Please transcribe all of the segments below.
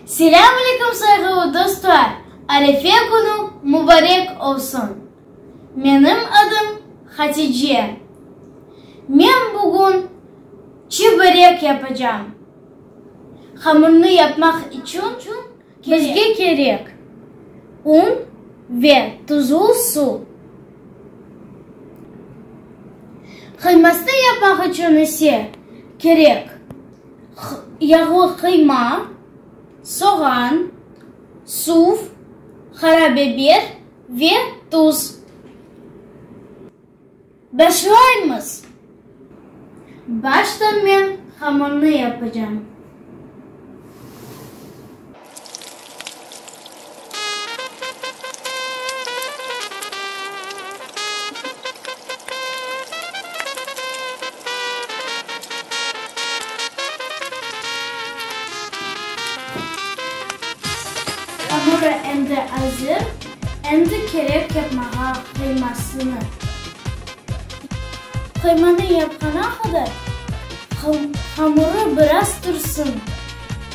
Selâm aleyküm sayğılı dostlar, Arefe künü mubarek olsun! Menim adım Hatice. Men bugün çi börek yapacam. Hamurnı yapmaq içün bizge kerek, un ve tuzlu su. Qıymasnı yapmaq içün ise kerek. Yağlı qıyma, soğan, suv, qara biber ve tuz. Başlaymız. Başta men hamırnı yapacağım. Hamurı endi azır, endi kerek yapmağa qıymasını. Qıymanı yapqana qadar hamurı biraz tursın.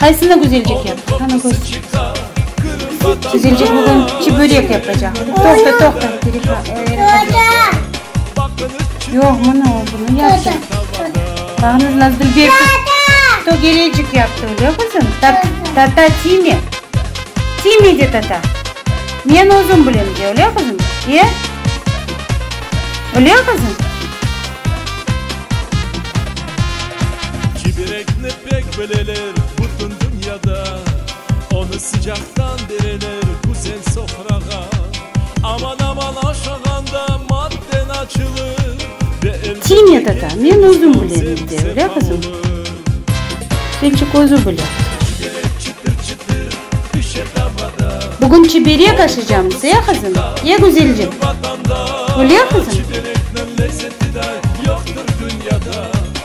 Qaysını güzel çeken? Qana köster. Güzelcik bugün çibörek yapacaq. Toqta, toqta. Yoq, mına o, bunı yapsın. Bağnız Nazlı Bek. Tata! Tögerecik yaptı, öyle kızım? Tata tiyme. Tiyme de tata. Men özüm bilem de, öyle kızım? E? Öyle kızım? Çiberekni Pek bileler bütün dünyada, Onı sıcaqtan bereler güzel sofrağa. Aman-aman aşağanda madden açılır, Ve elbet ki Kimiya tata, keyfiniz men özüm tam bilem, zevq deydi, öyle zevdan qızım? olur. Çiberek özü bile. Çiberek çıtır-çıtır pişe tavada. Bugün çiberek aşacam, ye qızım, ye güzelcik. Vatanda. Öyle qızım? Çiberekniñ lezzeti de yoqtır dünyada.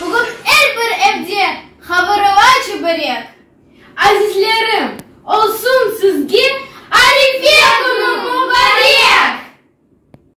Bugün er bir evde havırıva çöbörek. Azizlerim, olsun sizge Arife künü mubarek!